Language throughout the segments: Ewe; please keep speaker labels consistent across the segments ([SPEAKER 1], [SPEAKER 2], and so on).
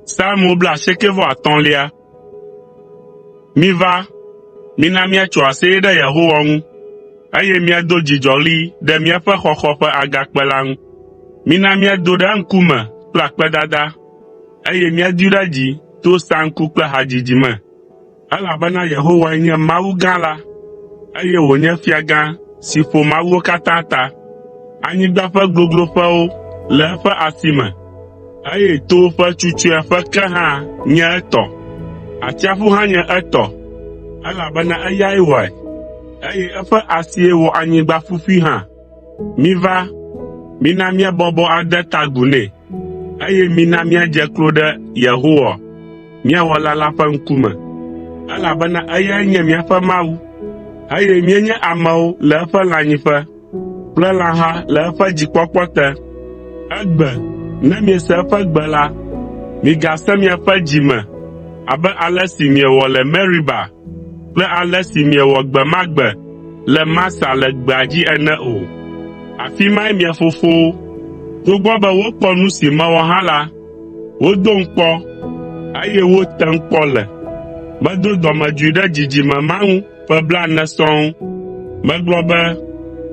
[SPEAKER 1] Psalmo blaasiekɛ-vɔ-atɔ̃lia. Miva, mina míatso aseye ɖe Yehowa ŋu, eye míado dzidzɔɣli ɖe míaƒe xɔxɔ ƒe Agakpe la ŋu. Mina míado ɖe eŋkume kple akpedada, eye míadoe ɖe dzi to saŋku kple hadzidzi me. Elabena Yehowae nye Mawu gã la, eye wònye Fiagã si ƒo mawuwo katã ta. Anyigba ƒe gogloƒewo le eƒe asi me, eye towo ƒe tsutsuea ƒe ke hã nye etɔ. Atsiaƒu hã nye etɔ, elabena eyae wɔe, eye eƒe asie wɔ anyigba ƒuƒui hã. “Miva, mina míabɔbɔ ade ta agu nɛ, eye mina míadze klo ɖe Yehowa, mía Wɔla la ƒe ŋkume, elabena eyae nye míaƒe Mawu, eye míenye amewo le eƒe lãnyiƒe kple lãha le eƒe dzikpɔkpɔ te. Egbe, ne miese eƒe gbe la, migasẽ miaƒe dzi me abe ale si miewɔ le Meriba kple ale si miewɔ gbe ma gbe le Masa le gbea dzi ene o. Afi mae mia fofowo, togbɔ be wokpɔ nu si mewɔ hã la, wodom kpɔ, eye wotem kpɔ le. Medo dɔmedzoe ɖe dzidzime ma ŋu ƒe blaene sɔŋ. Megblɔ be,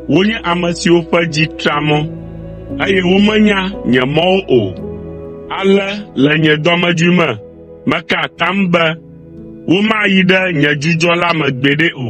[SPEAKER 1] “Wonye ame siwo ƒe dzi tra mɔ, eye womenya nye mɔwo o.” Ale le nye dɔmedzoe me meka atam be, Womayi ɖe nye dzudzɔ la me gbeɖe o.